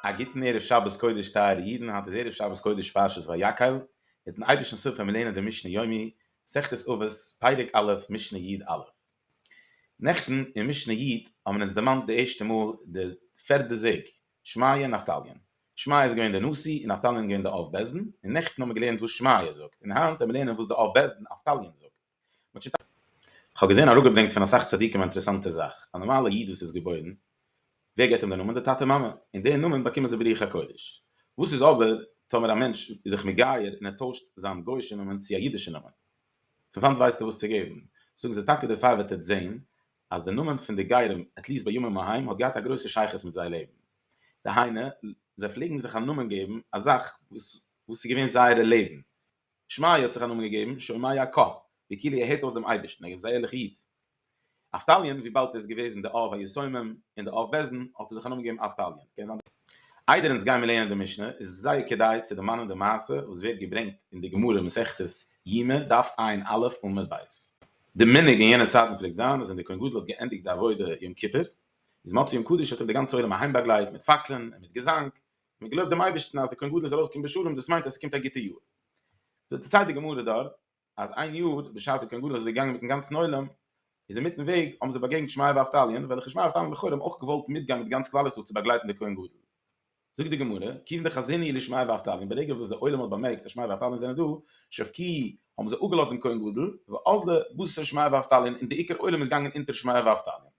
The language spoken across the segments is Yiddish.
א גוטן ערב שבת קודש טייערע אידן, היינט איז ערב שבת קודש פרשת ויקהל, מיטן אייבערשטנ'ס הילף וועלן מיר לערנען די משנה יומי, מסכת אבות, פרק א', משנה י א. נעכטן אין משנה י האבן אונז דערמאנט די ערשטע מאל די פערדע זוג, שמעיה און נפתליה. שמעיה איז געווען דער נשיא און נפתליה איז געווען דער אב בית דין, און נעכטן האבן מיר געלערנט וואס שמעיה זאגט, און היינט וועלן מיר לערנען וואס דער אב בית דין נפתליה זאגט. כ'האב געזען אראפגעברענגט פון אסאך צדיקים א אינטערעסאנטע זאך, א נארמאלע איד וואס איז געבוירן, ווער געבט אים די נאמען? די טאטע מאמע, און די נאמען באקומען זיי ברוח הקודש, וואס איז אבער טאמער א מענטש איז זיך מגייר און ער טוישט זיין גוי'שע נאמען צו א אידישע נאמען, פון וואנט ווייסט ער וואס צו געבן? זאגן זיי טאקע דערפאר וועט עטץ זען אז די נאמען פון די גרים, עטליסט בימים ההם, האט געהאט א גרויסע שייכות מיט זייער לעבן, דהיינו, זיי פלעגן זיך א נאמען געבן א זאך וואס איז געווען זייערע לעבן, שמעיה האט זיך א נאמען געגעבן שמעיה ק, ווי כאילו ער הערט אויס דעם אייבערשטן, ער איז א ערליכער איד. אבטליון, וויבאלד ער איז געוועזן דער אב היסומים און דער אב בעסדן, האט ער זיך א נאמען געגעבן אבטליון. איידער אונז גיימער לערנען די משנה, איז זייער כדאי צו דערמאנען די מעשה וואס ווערט געברענגט אין די גמרא מסכת יומא דף עין א' עמוד ב'. די מנהג אין יענע צייטן פלעגט זיין אז ווען דער כהן גדול האט געענדיגט די עבודה יום כיפור, איז מוצאי יום קדוש האט אים די גאנצע עולם אהיימבאגלייט מיט פאקלען און מיט געזאנג, מען געלויבט דעם אייבערשטן אז די כהן גדול איז ארויסגעקומען בשלום, דאס מיינט אז עס קומט א גוטע יאר. דערציילט די גמרא דארט אז איין יאר בשעת די כהן גדול איז געגאנגען מיטן גאנצן עולם, איז אינמיטן וועג האבן זיי באגעגנט שמעיה ואבטליון, וועלכע שמעיה ואבטליון לכאורה האבן אויך געוואלט מיטגיין מיט גאנץ כלל ישראל צו באגלייטן די כהן גדול. זאגט די גמרא, כיוון דחזיני לשמעיה ואבטליון, ברגע וואס די עולם האט באמערקט אז שמעיה ואבטליון זענען דא, שב ק האבן זיי אפגעלאזט דעם כהן גדול, ואז ל בוז ס שמעיה ואבטליון און די עיקר עולם איז געגאנגען אונטער שמעיה ואבטליון.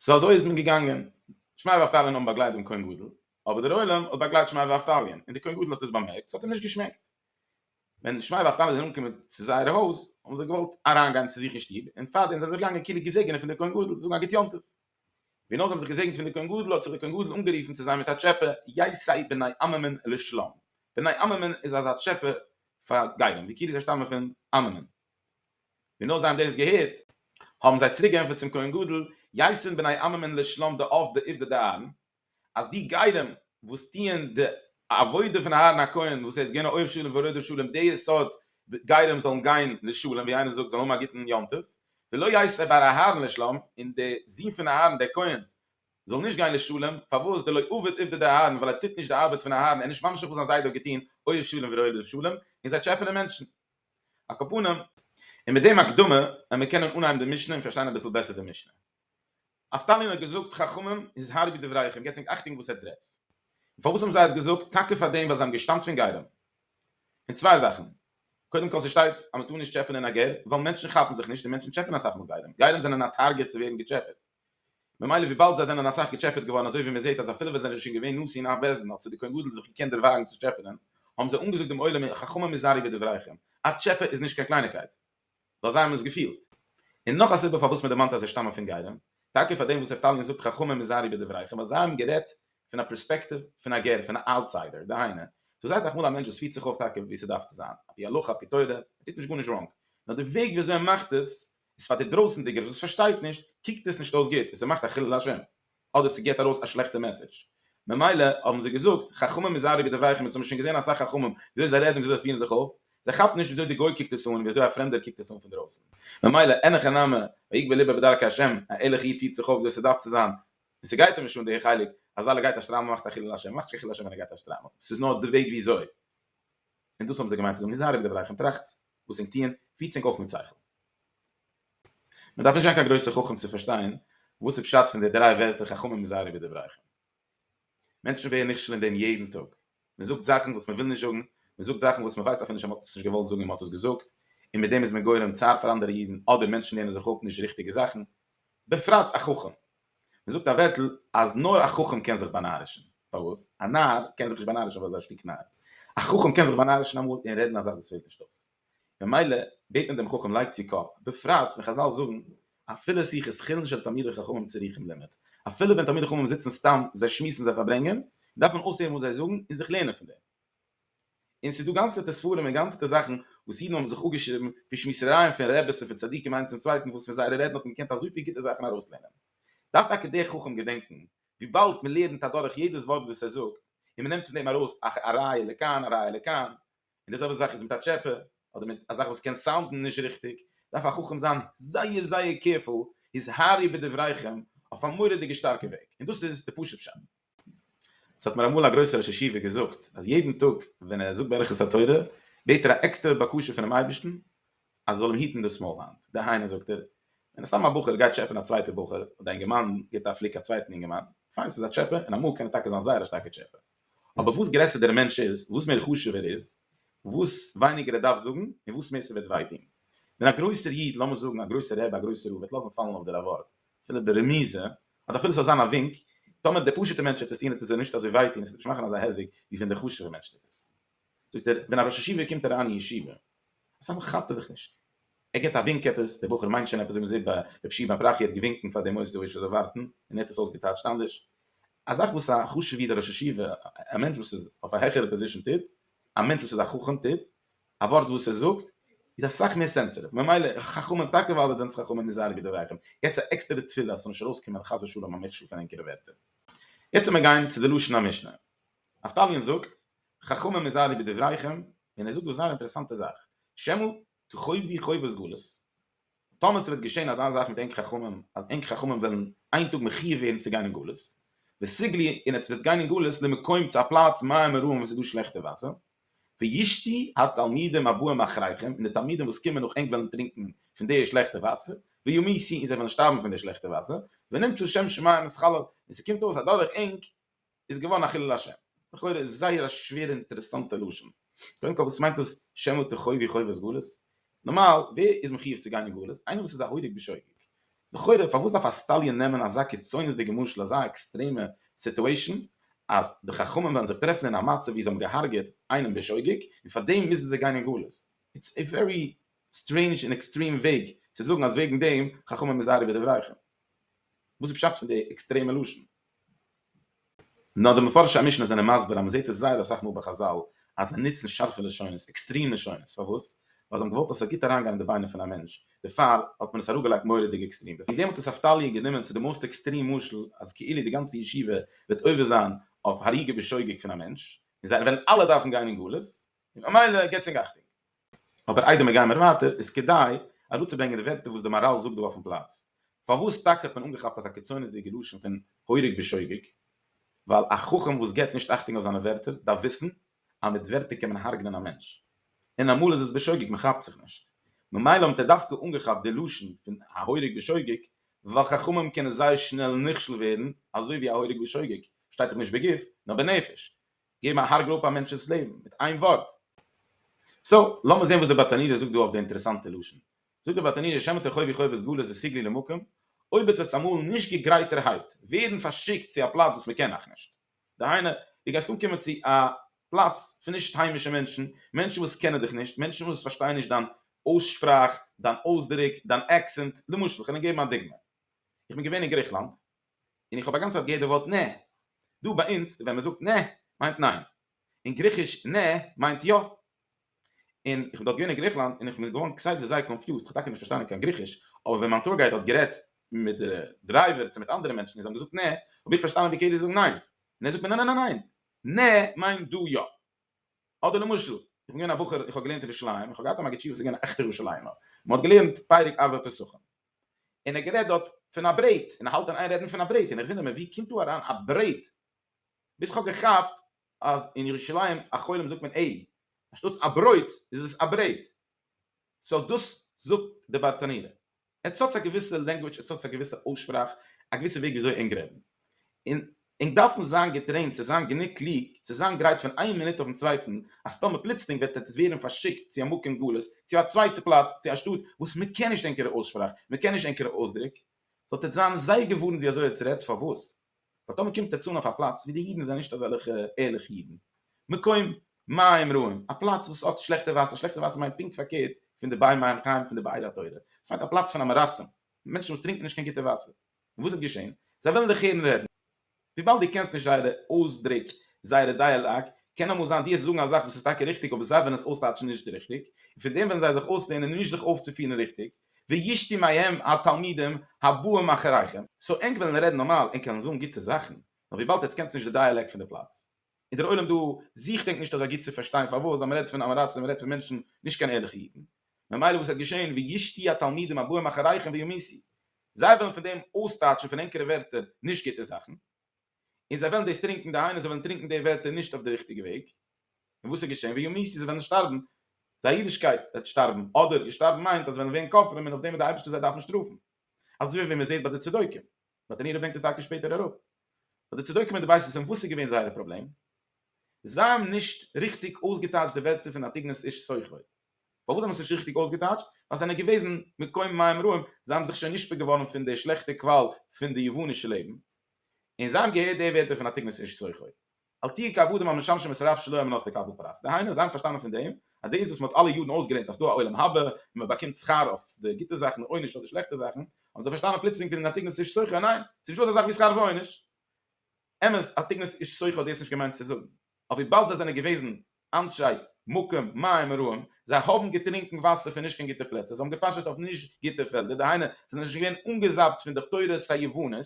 סאו אזוי איז מען געגאנגען, שמאי ואבטליון האבן באגלייט דעם כהן גדול, אבער דער עולם האט באגלייט שמאי ואבטליון, און דער כהן גדול האט עס באמערקט, ס'האט אים נישט געשמעקט. ווען שמאי ואבטליון זענען אנגעקומען צו זייער הויז, האבן זיי געוואלט אריינגיין צו זיך אין שטוב, און פארדעם זענען זיי זיך געגאנגען כאילו געזעגענען פון דער כהן גדול, זאגן א גוט יום טוב. ווי נאר זיי האבן זיך געזעגנט פון דער כהן גדול, האט זיך דער כהן גדול אנגערופן צו זיי מיט א טשעפע, יישאי בני עממען לשלום. בני עממען איז אזא טשעפע פאר גיידען, ווי כאילו זיי שטאמען פון עממען. און נאר זיי האבן דאס געהערט, האבן זיי צוריק געענטפערט צום כהן גדול, יעשין בני עממען לשלום די אב ד עובדא דאהרן, אז די גרים וואס טוען די עבודה פון אהרן הכהן, וואס ער איז געווען א אוהב שלום ורודף שלום, די סארט גרים זאלן גיין לשלום, ווי איינער זאגט, זאלן האבן א גוטן יום טוב, ולא יעשה בר אהרן לשלום, און די זון פון אהרן דער כהן זאל נישט גיין לשלום, פארוואס, דלא עבד עובדא דאהרן, ווייל ער טוט נישט די ארבעט פון אהרן, ער איז נישט ממשיך וואס זיין זיידע האט געטון, אוהב שלום ורודף שלום, און זיי טשעפענען מענטשן. על כל פנים, און מיט דעם הקדמה וועט מען קענען אנהייבן די משנה און פארשטיין אביסל בעסער די משנה. נפתלי האט געזאגט חכמים היזהרי בדבריכם, געבטס ענק אכטונג וואס עטס רעדטס. און פארוואס האבן זיי עס געזאגט? טאקע פאר דעם ווייל זיי האבן געשטאמט פון גרים. פון צוויי זאכן. קודם כל ס'שטייט אז מ'טאר נישט טשעפענען א גר, ווייל מענטשן כאפן זיך נישט און מענטשן טשעפענען אסאך מאל גרים. גרים זענען א טארגעט צו ווערן געטשעפעט. ממילא וויבאלד זיי זענען אסאך געטשעפעט געווארן אזוי ווי מען זעהט אז אפילו ווען זיי זענען שוין געווען נשיא אין אף בעש ט האט זיך די כהן גדול זיך געקענט דערוואגן צו טשעפענען האבן זיי אנגעזאגט דעם עולם אין חכמים היזהרי בדבריכם א טשעפע איז נישט קיין קלייניקייט ווייל זיי האבן עס געפילט. און נאך א סיבה פארוואס מען דערמאנט אז זיי שטאמען פון גרים טאקע פאר דעם וואס נפתלי זאגט חכמים היזהרי בדבריכם ווייל זיי האבן גערעדט פון א פרעספעקטיוו פון א גר פון א אוטסיידער דהיינו ס'איז זייער אסאך מאל א מענטש וואס פירט זיך אויף טאקע ווי ס'דארף צו זיין אפי' הלכה אפי' תורה ער טוט נישט גארנישט ראנג נאר די וועג ווי אזוי ער מאכט עס איז פאר די דרויסענדיגער וואס פארשטייט נישט קוקט עס נישט אויס גוט און ס'מאכט א חילול השם אדער ס'געט ארויס א שלעכטע מעסעדזש ממילא האבן זיי געזאגט חכמים היזהרו בדבריכם אונז האבן שוין געזען אסאך חכמים וויאזוי זיי רעדן און וויאזוי זיי פירן זיך אויף זיי כאפן נישט וויאזוי די גוי קוקט עס אן און וויאזוי א פרעמדער קוקט עס אן פון דרויסן ממילא אין הכי נמי ויגבה ליבו בדרכי השם א ערליכע איד פירט זיך אויף וויאזוי ס'דארף צו זיין און ס'גייט אים נישט אן די חלק אז ווייל ער גייט א שטריימל מאכט א חילול השם מאכט שוין חילול השם ווען ער גייט א שטריימל ס'איז נאר די וועג וויאזוי און דאס האבן זיי געמיינט צו זאגן היזהרו בדבריכם טראכטס וואס ענק טוען פירט ענק אויף מיט שכל. מען דארף נישט זיין קיין גרויסע חכם צו פארשטיין וואס איז פשט פון די דריי ווערטער חכמים היזהרו בדבריכם. מענטשן ווערן נכשל אין דעם יעדן טאג. מען זאגט זאכן וואס מען וויל נישט זאגן, מען זאגט זאכן וואס מען ווייסט אפילו נישט אז מען האט עס נישט געוואלט זאגן און מען האט עס געזאגט, און מיט דעם איז מען גורם צער פאר אנדערע אידן, אדער מענטשן לערנען זיך אפ נישט די ריכטיגע זאכן. בפרט א חכם. מען זאגט א ווערטל אז נאר א חכם קען זיך באנארישן, פארוואס? א נאר קען זיך נישט באנארישן ווייל ער איז א שטיק נאר. א חכם קען זיך באנארישן אמאל און רעדן א זאך וואס פעלט נישט אויס. ממילא בעט מען דעם חכם לייג צו קאפ, בפרט ווען חזל זאגן אפילו שיח איז חילן של תלמידי חכמים צריכים לימוד, אפילו ווען תלמידי חכמים זיצן סתם זיי שמועסן זיי פארברענגען, דארף מען אויסהערן וואס זיי זאגן און זיך לערנען פון דעם. און ס'איז דא גאנצעטע ספרים און גאנצעטע זאכן וואס אידן האבן זיך אפגעשריבן פון שמועסערייען פון רעבעס און פון צדיקים איינער צום צווייטן וואס פון זייערע רעדן האט מען געקענט אזויפיל גוטע זאכן ארויסלערנען. דארף טאקע דער חכם געדענקן וויבאלד מען לערנט אדורך יעדעס ווארט וואס ער זאגט און מען נעמט פון דעם ארויס א ראיה לכאן א ראיה לכאן און די זעלבע זאך איז מיט א טשעפע אדער מיט א זאך וואס קען סאונדן נישט ריכטיג דארף א חכם זיין זייער זייער קעירפול היזהרי בדבריכם אויף א מורא'דיגע שטארקע וועג און דאס איז די פשוט פשט. ס'האט מיר אמאל א גרויסער ראש ישיבה געזאגט אז יעדן טאג ווען ער זאגט ברכת התורה בעט ער א עקסטערע בקשה פונעם אייבערשטן אז עס זאל אים היטן דאס מויל היינט, דהיינו זאגט ער, ווען סתם א בחור גייט טשעפען א צווייטע בחור אדער א אינגערמאן גיבט א פליק א צווייטן אינגערמאן, פיין ס'איז א טשעפע און אמאל קען ער טאקע זיין זייער א שטארקע טשעפע, אבער וואס גרעסער דער מענטש איז, וואס מער חשוב ער איז, וואס ווייניגער ער דארף זאגן און וואס מער ס'וועט וויי טון. ווען א גרויסער איד, לאמיר זאגן א גרויסער רבי, א גרויסער רב, וועט לאזן פאלן אויף דיר א ווארט, אפילו ברמיזה, אט אפילו ס'זאל זיין א ווינק, טאמער דער פשוט'ער מענטש וועט עס טון וועט עס אים נישט אזוי וויי טון און ס'וועט נישט מאכן אזא היזק ווי ווען דער חשוב'ער מענטש טוט עס. זאגט ער, ווען א ראש ישיבה קומט אריין אין ישיבה, אסאמאל כאפט ער זיך נישט, ער גיבט א ווינק עפעס, דער בחור מיינט שוין עפעס, זאגן זיי ביי ר' שמעון פרחי ער האט געווינקן פאר דעם עושר זאל ווארטן און ער האט עס אויסגעטייטשט אנדערש, א זאך וואס א חשוב'ער ראש ישיבה, א מענטש וואס איז אויף א העכערע פאזישאן טוט, א מענטש וואס איז א חכם טוט, א ווארט וואס ער זאגט איז אסאך מער סענסעטיוו ממילא חכמים טאקע ווייל אט זענטס חכמים און זייערע גדולי אחים יעצט א עקסטערע תפילה אז ס'זאל נישט ארויסקומען חס ושלום א מכשול פון ענקערע ווערטער. יעצט צו מיר גיין צו די לשון המשנה. נפתלי'ן זאגט חכמים און זייערע גדולי אחים און ער זאגט דא א זייער אינטערעסאנטע זאך שמעו תחובי חובת גלות און טאמער ס'וועט געשען אזא זאך מיט ענק חכמים אז ענק חכמים וועלן איין טאג מחיוב ווערן צו גיין אין גלות, וסיגלי און עטס וועטס גיין אין גלות למקום צו א פלאץ מים מרורים וואו ס'איז דא שלעכטע וואסער, וישתי התלמידים הבאים אחריכם און די תלמידים וואס קומען נאך ענק וועלן טרינקן פון די שלעכטע וואסער, וימיסי און זיי וועלן שטארבן פון די שלעכטע וואסער, ונמצא שם שמים אז חלל און ס'קומט אויס אז דורך ענק איז געווארן א חילול השם. לכאורה איז זייער א שווערע אינטערעסאנטע לשון. קודם כל וואס מיינט דאס שמא תחובי חובת גלות? נארמאל ווער איז מחיוב צו גיין אין גלות? איינער וואס איז א הורג בשוגג. לכאורה פארוואס דארף א סטאליען נעמען אזא קיצונית'דיגע משל אזא עקסטרעמע סיטועשאן אז די חכמים וועלן זיך טרעפן אין א מצב ווי זיי האבן געהארגעט איינעם בשוגג און פאר דעם מוזן זיי גיין אין גלות? איטס א ווערי סטרעינדזש און עקסטרעם וועג צו זאגן אז וועגן דעם חכמים איז אייערע בדבריכם. וואס איז פשט פון די עקסטרעמע לשון? נאר די מפרשי המשנה זענען מסביר אז מען זעט עס זייער אסאך מאל ביי חזל אז זיי נוצן שארפע לשונות, עקסטרים לשונות, פארוואס? ווייל זיי האבן געוואלט אז ס'זאל גוט אריינגיין אין די ביינער פון א מענטש, דערפאר האט מען עס אראפגעלייגט מורא'דיג עקסטרים, וועגן דעם האט עס אבטלי' גענומען צו די מאסט עקסטרים משל אז כאילו די גאנצע ישיבה וועט עובר זיין אויף הריגה בשוגג פון א מענטש, און זיי וועלן אלע דארפן גיין אין גלות, און ממילא געטס ענק אכטונג. אבער איידער מיר גיימער ווייטער איז כדאי אראפצוברענגען די ווערטער וואס די מאראל זאגט דא אויפן פלאץ. פארוואס טאקע האט מען אנגעכאפט אזא קיצונית'דיגע לשון פון הורג בשוגג? ווייל א חכם וואס געבט נישט אכטונג אויף זיינע ווערטער דארף וויסן אז מיט ווערטער קען מען הרג'נען א מענטש. און אמאל איז עס בשוגג, מען כאפט זיך נישט. ממילא האט ער דווקא אנגעכאפט די לשון פון הורג בשוגג, ווייל חכמים קענען זייער שנעל נכשל ווערן, אזוי ווי א הורג בשוגג, פארשטייט זיך נישט בגוף, נאר בנפש. געבן א הרג'ל אפ א מענטש'ס לעבן מיט איין ווארט. סא, לאמיר זעהן וואס דער באטאנירער זאגט דא אויף די אינטערעסאנטע לשון. זאגט דער באטאנירער שמע ת חובי חובות גלות וסיגלי למקום, אויב עטס וועטס אמאל נישט געגרייטערהייט ווערן פארשיקט צו א פלאץ וואס מען קען אייך נישט, דהיינו, דו גייסט אנקומען צו א פלאץ פון נישט היימישע מענטשן, מענטשן וואס קענען דיך נישט, מענטשן וואס פארשטייען נישט דיין אויסשפראך, דיין אויסדרוק, דיין עקסענט, למשל, כ'וועל דיר געבן א דוגמא. איך בין געווען אין גריכלאנד, און איך האב א גאנצע צייט געהערט די ווארט נע. דא ביי אונז ווען מען זאגט נע מיינט ניין. אין גריכיש נע מיינט יא. און איך בין דארט געווען אין גריכלאנד און איך בין געווארן כסדר זייער קאנפיוזט, איך האב טאקע נישט פארשטאנען קיין גריכיש, אבער ווען מיין טור גייד האט גערעדט מיט די דרייווער צו מיט אנדערע מענטשן און זיי האבן געזאגט נע, האב איך פארשטאנען ווי כדי זאגן ניין. און ער זאגט מיר ניין ניין ניין ניין, נע מיינט דא יא. אדער למשל, איך בין געווען א בחור, איך האב געלערנט אין ירושלים, איך האב געהאט א מגיד שיעור וואס איז געווען א עכטער ירושלימער, מען האט געלערנט פרק ארבע פסחים. און ער האט גערעדט דארט פון א ברעט, און ער האלט אין איין רעדן פון א ברעט, און איך וואונדער מיר ווי קומט דא אריין א ברעט, ביז כ'האב געכאפט אז אין ירושלים החולים זאגט מען עי, אנשטאטס א ברויט איז עס א ברעט, סאו דאס זאגט די בארטאנירער, עטס האטס א געוויסע לענגוויטש, עטס האטס א געוויסע אויסשפראך, א געוויסע וועג וויאזוי ענק רעדן, און ענק דארפן זיין געטרעינט צו זיין גענוג קלוג צו זיין גרייט פון איין מינוט אויפן צווייטן אז טאמער פלוצלינג וועט עטס ווערן פארשיקט צו א מקום גלות צו א צווייטע פלאץ צו א שטאט וואס מען קען נישט ענקערע אויסשפראך מען קען נישט ענקערע אויסדריק זאלט עטס זיין זייער געווארנט ווי אזוי עטס רעדטס פארוואס ווייל טאמער קומט עטס אן אויף א פלאץ ווי די אידן זענען נישט אזעלעכע ערליכע אידן מקום מים רעים א פלאץ וואס האט שלעכטע וואסער שלעכטע וואסער מיינט פונקט פארקערט פון די באי מים חיים פון די באי דעת תורה ס'מיינט א פלאץ פון אמעראצים מענטשן וואס טרינקן נישט קיין גוטע וואסער. און וואס האט געשען? זיי וועלן דיך הערן רעדן. וויבאלד דו קענסט נישט זייערע אויסדרוק, זייערע דייעלאג, קען אמאל זיין דו עסט זאגן א זאך וואס איז טאקע ריכטיג אבער זיי וועלן עס אויסטייטשן נישט ריכטיג, און פון דעם וועלן זיי זיך אויסלערנען נישט זיך אויפצופירן ריכטיג, וישתו מהם התלמידים הבאים אחריכם. סאו ענק וועלן רעדן נארמאל, ענק קענען זאגן גוטע זאכן, נאר וויבאלד עטס קענסט נישט די דייעלעקט פון די פלאץ, איז דער עולם דא זיך ענק נישט אזוי גוט צו פארשטיין פארוואס אז מען רעדט פון עם הארצות, מען רעדט פון מענטשן, נישט קיין ערליכע אידן. ממילא וואס וועט געשען? וישתו התלמידים הבאים אחריכם וימיסו. זיי וועלן פון דעם אויסטייטשן פון ענקערע ווערטער נישט גוטע זאכן, און זיי וועלן דאס טרינקען, דהיינו זיי וועלן טרינקען די ווערטער נישט אויף די ריכטיגע וועג, און וואס איז געשען? וימותו, זיי וועלן שטארבן, זייער אידישקייט וועט שטארבן, אדער איר שטארבן מיינט אז זיי וועלן ווערן כופרים און אויף דעם וועט דער אייבערשטער זיי דארפן שטראפן, אזוי ווי מען זעט ביי די צדוקים, די תני ר ברענגט עס טאקע שפעטער אראפ, ביי די צדוקים און די בית יוסף, וואס איז געווען זייער פראבלעם? זיי האבן נישט ריכטיג אויסגעטייטשט די ווערטער פון אטיגנוס איש סוחר. פארוואס זיי האבן עס נישט ריכטיג אויסגעטייטשט? ווייל זיי זענען געוועזן מקום מים רעים, זיי האבן זיך שוין נשפע געווארן פון די שלעכטע קוואל פון די יוונישע לעבן, און זיי האבן געהערט די ווערטער פון התקנות איש צרכו, אל תהיו כעבדים המשמשים את הרב שלא על מנת לקבל פרס, דהיינו זיי האבן פארשטאנען פון דעם אז דאס וואס מען האט אלע יארן אויסגעלערנט אז ס'איז דא א עולם הבא און מען באקומט שכר אויף די גוטע זאכן און עונש אויף די שלעכטע זאכן, האבן זיי פארשטאנען פלוצלינג פון התקנות איש צרכו, ניין, ס'איז נישטא אזא זאך ווי שכר ועונש. אמת, התקנות איש צרכו האט דאס נישט געמיינט צו זאגן, אבער וויבאלד זיי זענען געוועזן אנשי מקום מים מרועים, זיי האבן געטרינקן וואסער פון נישט קיין גוטע פלעצער, זיי האבן געפאשעט אויף נישט גוטע פעלדער, דהיינו זיי זענען נישט געווען אנגעזאפט פון די תורת היוונית,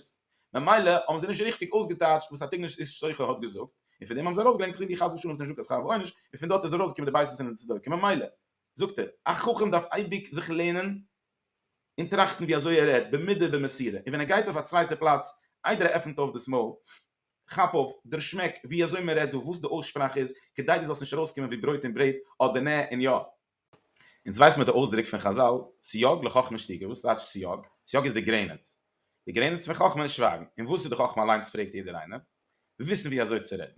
ממילא האבן זיי נישט ריכטיג אויסגעטייטשט וואס א תגלית איש סוכו האט געזאגט, און פון דעם האבן זיי ארויסגעברענגט פסוקים ווי חס ושלום איז נישט דא קיין שכר ועונש, און פון דארט איז ארויסגעקומען די בייסעס און די צדוקים, ממילא זאגט ער, א חכם דארף אייביג זיך לערנען און טראכטן ווי אזוי ער רעדט, במידה ובמסירה, און ווען ער גייט אויף א צווייטע פלאץ, איידער ער עפנט אויף דאס מויל, כאפ אויף דער שמעק ווי אזוי מען רעדט דא וואס די אויסשפראך איז כדי דו זאלסט נישט ארויסקומען ווי ברויט און ברעט אדער נע און יא. אונז ווייס מיר די אויסדרוק פון חזל סייג לחכמה שתיקה וואס טייטש סייג? סייג איז די גרעניץ. די גרעניץ פון חכמה איז שווייגן. און וואס איז די חכמה אליינס פרעגט יעדער איינער? וויסן ווי אזוי צו רעדן.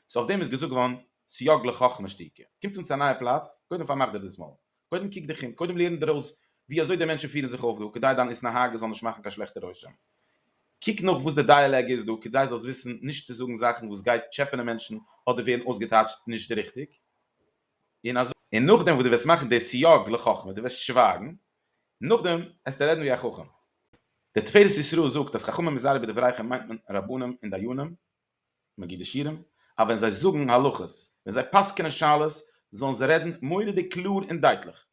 סאו אויף דעם איז געזאגט געווארן סייג לחכמה שתיקה. קומט אונז צו א נייע פלאץ, קודם פארמאך דיר דאס מויל. קודם קוק דיך אום, קודם לערן דיר אויס ווי אזוי די מענטשן פירן זיך אויף דא, כדי דיין התנהגות זאל נישט מאכן קיין שלעכטע רושם. קוק נאך וואס די דייעלאג איז דא, כדי זאלסט וויסן נישט צו זאגן זאכן וואס גייט טשעפענען מענטשן אדער ווערן אויסגעטייטשט נישט די ריכטיג. און אזוי. און נאכדעם וואס דו וועסט מאכן די סייג לחכמה, דו וועסט שווייגן, נאכדעם העסטו רעדן ווי א חכם. דער תפארת ישראל זאגט אז חכמים מזהרי בדבריכם מיינט מען רבנים און דיינים, מגידי שירים אז ווען זיי זאגן הלכות, ווען זיי פסק'נען שאלות, זאלן זיי רעדן מורא'דיג קלאר און דייטליך.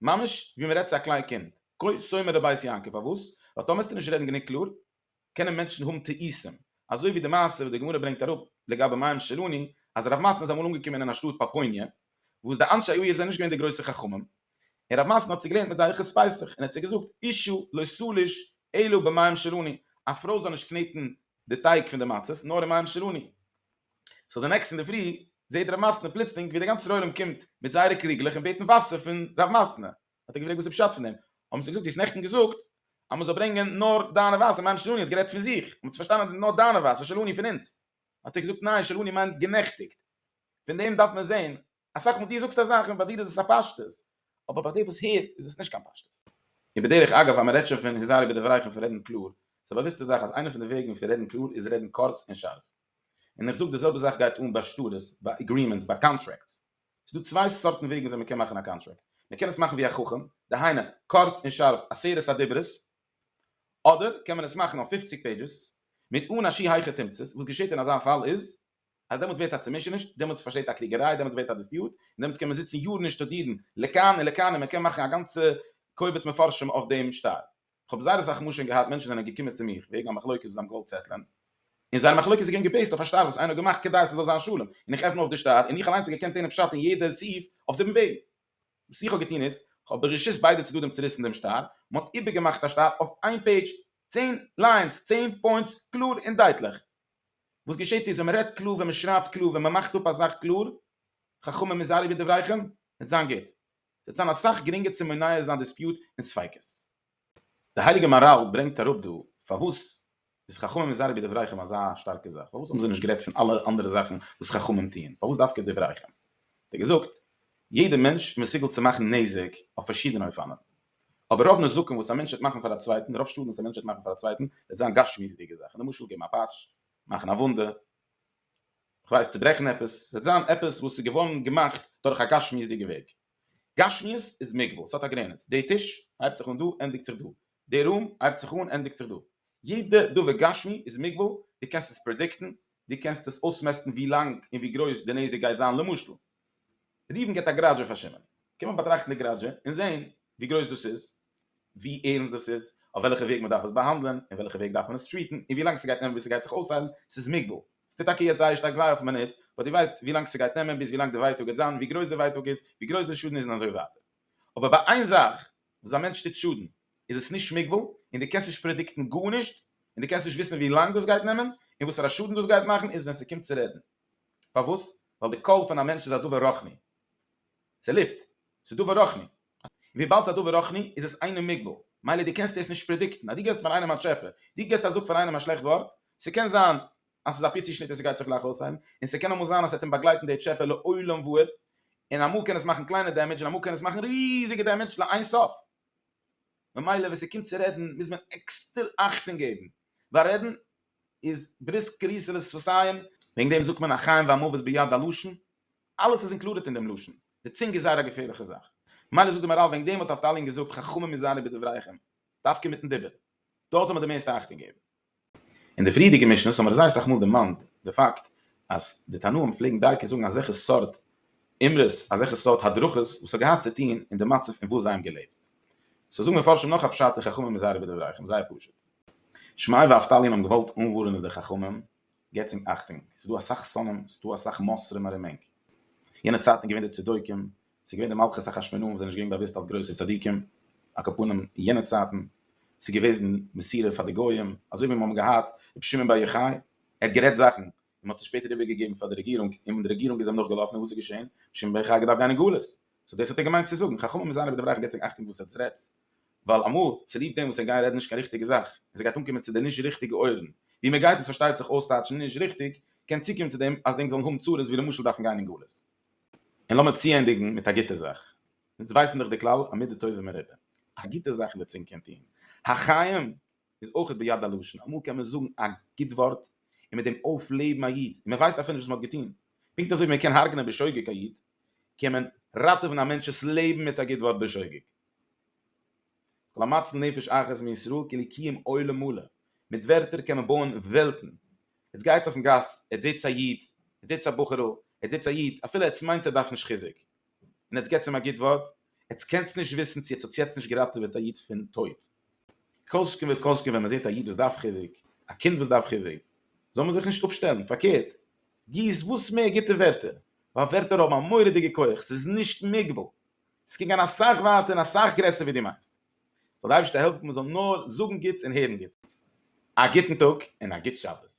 ממש ווי מ'רעדט צו א קליין קינד. כה שומר לבית יעקב. פארוואס? ווייל טאמערסטו נישט רעדן גענוג קלאר, קענען מענטשן האבן טעותים. אזוי ווי די מעשה וואס די גמרא ברענגט אראפ לגבי מים שלוני, אז הרב מאסן איז אמאל אנגעקומען אין א שטאט פאפוניע, וואס די אנשי העיר זענען נישט געווען די גרויסע חכמים, און הרב מאסן האט זיי געלערנט מיט זייער חוץ פסח, און ער האט זיי געזאגט, אישה לא סליש אלא במים שלוני, א פרוי זאל נישט קנעטן די טייג פון די מצות נאר אין מים שלוני. סאו די נעקסטע אינדערפרי זעהט רב מסטנא פלוצלינג ווי די גאנצע ישראל ארום קומט מיט זייערע קריגלעך און בעטן וואסער פון רב מסטנא. האט ער געפרעגט וואס איז פשט פון דעם? האבן זיי געזאגט דו האסט נעכטן געזאגט אז מ'זאל ברענגען נאר דיינע וואסער מים שלוני האסט גערעדט פון זיך און מ'האט פארשטאנען אז נאר דיינע וואסער שלוני פון אונז. האט ער געזאגט ניין שלוני מיינט גענעכטיגט. פון דעם דארף מען זעהן אסאך מאל דו זאגסט א זאך און ביי דיר איז עס א פשטות, אבער ביי דער וואס הערט איז עס נישט קיין פשטות. און בדרך אגב אז מען רעדט שוין פון היזהרי בדבריך און פון רעדן קלאר, איז א באוויסטע זאך אז איינע פון די וועגן פון רעדן קלאר איז רעדן קורץ און שארף. און איך זאג די זעלבע זאך גייט אן ביי שטרות, ביי אגרימענטס, ביי קאנטרעקטס. ס'איז דא צוויי סארטן וועגן וויאזוי מען קען מאכן א קאנטרעקט. מען קען עס מאכן ווי א חכם, דהיינו, קורץ און שארף, עשרת הדיברות. אדער קען מען עס מאכן אויף פופציג פעידזשעס, מיט אן א שיהייכע תמצית. וואס געשעט אין אזא פאל איז. אז דעמאלטס ווערט א צומישעניש, דעמאלטס פארשטייט א קריגעריי, דעמאלטס ווערט א דיספיוט, און דעמאלטס קען מען זיצן יארן און שטודירן לכאן און לכאן און מען קען מאכן א גאנצע קובץ מפרשים אויף דעם שטר. כ'האב זייער אסאך מאל שוין געהאט מענטשן זענען געקומען צו מיך וועגן א מחלוקת וואס זיי האבן געוואלט סעטלען, און זייער מחלוקת איז געווען געבעיסט אויף א שטר וואס איינער האט געמאכט כדי ס'זאל זיין שלום, און איך עפן אויף די שטר און איך אליינס האב געקענט טענה'ן פשט אין יעדע סעיף אויף זיבן וועגן. וואס איך האב געטון איז, כ'האב ברשות ביידע צדדים צוריסן דעם שטר, מען האט איבערגעמאכט א שטר אויף איין פעידזש, צען ליינס, צען פוינטס, קלאר און דייטליך. וואס געשעט איז ווען מ'רעדט קלאר, ווען מ'שרייבט קלאר, ווען מ'מאכט אפ א זאך קלאר, חכמים היזהרו בדבריכם, וועט זיין גוט. ס'וועט זיין אסאך גרינגער צו מונע זיין דיספיוט און ספיקות. דער הייליגער מהרל ברענגט אראפ דא פארוואס איז חכמים היזהרו בדבריכם אזא שטארקע זאך, פארוואס האבן זיי נישט גערעדט פון אלע אנדערע זאכן וואס חכמים טוען, פארוואס דווקא דבריכם? האט ער געזאגט, יעדער מענטש איז מסוגל צו מאכן נזק אויף פארשידענע אופנים, אבער רוב נזקים וואס א מענטש וועט מאכן פאר א צווייטן, רוב שאדן וואס א מענטש וועט מאכן פאר א צווייטן, וועט זיין גשמיות'דיגע זאכן, למשל געבן א פאטש, מאכן א וואונדע, כ'ווייס צוברעכן עפעס, ס'וועט זיין עפעס וואס איז געווארן געמאכט דורך א גשמיות'דיגע וועג. גשמיות איז מוגבל, ס'האט א גרעניץ, די טיש הייבט זיך אן דא, ענדיגט זיך דא, די רום הייבט זיך אן, ענדיגט זיך דא, יעדע דבר גשמי איז מוגבל, דו קענסט עס פרעדיקטן, דו קענסט עס אויסמעסטן ווי לאנג און ווי גרויס די נזק גייט זיין, למשל, ראובן געט א גראדזש אויף א שמעון. קען מען באטראכטן די גראדזש און זען ווי גרויס דאס איז, ווי ערנסט דאס איז, אויף וועלכע וועג מען דארף עס באהאנדלען, אין וועלכע וועג דארף מען עס טריעטן, און ווי לאנג ס'גייט נעמען ביז ס'גייט זיך אויסהיילן, ס'איז מוגבל. ס'טוט טאקע יעצט זייער שטארק וויי אויפן מינוט, באט דו ווייסט ווי לאנג ס'גייט נעמען ביז ווי לאנג די ווייטאג גייט זיין, ווי גרויס די ווייטאג איז, ווי גרויס די שאדן איז און אזוי ווייטער. אבער ביי איין זאך, וואס א מענטש טוט שאדן, איז עס נישט מוגבל, און דו קענסט נישט פרעדיקטן גארנישט, און דו קענסט נישט וויסן ווי לאנג דאס גייט נעמען, און וואסערע שאדן דאס גייט מאכן, איז ווען ס'קומט צו רעדן. פארוואס? ווייל די קול פון א מענטש איז א דבר רוחני. ס'איז לופט. ס'איז דבר רוחני. און וויבאלד ס'איז א דבר רוחני איז עס אינו מוגבל. מילא דו קענסט דאס נישט פרעדיקטן. אז דו געסט פאר איינעם א טשעפע, דו געסט א זאג פאר איינעם א שלעכט ווארט, ס'קען זיין אז ס'איז אפי' צושניט און ס'גייט זיך גלייך אויסהיילן, און ס'קען אמאל זיין אז ס'וועט אים באגלייטן די טשעפע לעולם ועד, און אמאל קען עס מאכן קליינע דעמעדזש און אמאל קען עס מאכן ריזיגע דעמעדזש לאין סוף. ממילא ווען ס'קומט צו רעדן מוז מען עקסטער אכטונג געבן, ווייל רעדן איז בריסק גריסער איז פארסייען, וועגן דעם זאגט מען א חיים והמוות ביד הלשון, אלעס איז אינקלודעט אין דעם לשון, די צונג איז זייער א געפערליכע זאך, מילא זאגט די מאראל וועגן דעם האט נפתלי געזאגט חכמים היזהרו בדבריכם, דווקא מיטן דיבור, דארט זאל מען די מערסטע אכטונג געבן. אין די פריערדיגע משניות האבן מיר זייער סאך מאל דערמאנט די פאקט אז די תנאים פלעגן דייקא זאגן אזעלכע סארט אמרות, אזעלכע סארט הדרכות וואס האט געהאט צו טון אין די מצב אין וואס זיי האבן געלעבט, סאו זאגן מפרשים נאך א פשט אין חכמים היזהרו בדבריכם, זייער פשוט. שמעי' ואבטליון האבן געוואלט אנווארענען די חכמים, געבטס ענק אכטונג, ס'איז דא אסאך שונאים, ס'איז דא אסאך מסרים ארום ענק. יענע צייטן איז געווען די צדוקים, ס'איז געווען די מלכות החשמונאים וואס זענען נישט געווען באוואוסט אלס גרויסע צדיקים, אקאפנים יענע צייטן, ס'איז געוועזן מסירה פאר די גויים, אזוי ווי מיר האבן געהאט רבי שמעון בר יוחאי, ער האט גערעדט זאכן און מ'האט עס שפעטער איבערגעגעבן פאר די רעגירונג און די רעגירונג איז אים נאכגעלאפן און וואס איז געשען? רבי שמעון בר יוחאי האט געדארפט גיין אין גלות, סאו דאס האט ער געמיינט צו זאגן, חכמים זיינער בדבריך געבט זיך אכטונג וואס עטס רעדטס, ווייל אמאל צוליב דעם וואס ער גייט רעדן נישט קיין ריכטיגע זאך, און ס'גייט אנקומען צו די נישט ריכטיגע אויערן, ווי מען גייט עס פארשטייט זיך אויסטייטשן נישט ריכטיג, קען צוקומען צו דעם אז ענק זאלן האבן צרות ווי למשל דארפן גיין אין גלות. און לאמיר צוענדיגן מיט א גוטע זאך, אונז ווייסן דאך די כלל, המידה טובה מרובה, א גוטע זאך וועט צינקען טון החיים, איז אויכעט ביד הלשון, אמאל קען מען זאגן א גוט ווארט און מיט דעם אויפלעבן א איד, און מען ווייסט אפילו נישט וואס מען האט געטון. פונקט אזוי ווי מען קען הרג'נען בשוגג א איד, קען מען ראטעווען א מענטש'ס לעבן מיט א גוט ווארט בשוגג. כל המציל נפש אחת מישראל כאילו קיים עולם מלא. מיט ווערטער קען מען בויען וועלטן. עטס גייטס אויפן גאס, עטס זעטס א איד, עטס זעטס א בחור'ל, עטס זעטס א איד, אפילו עטס מיינטס ער דארף נישט חיזוק, און עטס געטס אים א גוט ווארט, עטס קענטס נישט וויסן צו עטס האטס יעצט נישט געראטעוועט א איד פון טויט. כל שכן וכל שכן ווען מען זעט א איד וואס דארף חיזוק, א קינד וואס דארף חיזוק, זאל מען זיך נישט אפשטעלן, פארקערט, גיס וואס מער גוטע ווערטער, ווייל ווערטער האבן א מורא'דיגע כח, ס'איז נישט מוגבל, ס'קען גיין אסאך ווייטער און אסאך גרעסער ווי דו מיינסט. זאל די אייבערשטער העלפן מען זאל נאר זאגן גוטס און הערן גוטס. א גוטן טאג און א גוט שבת.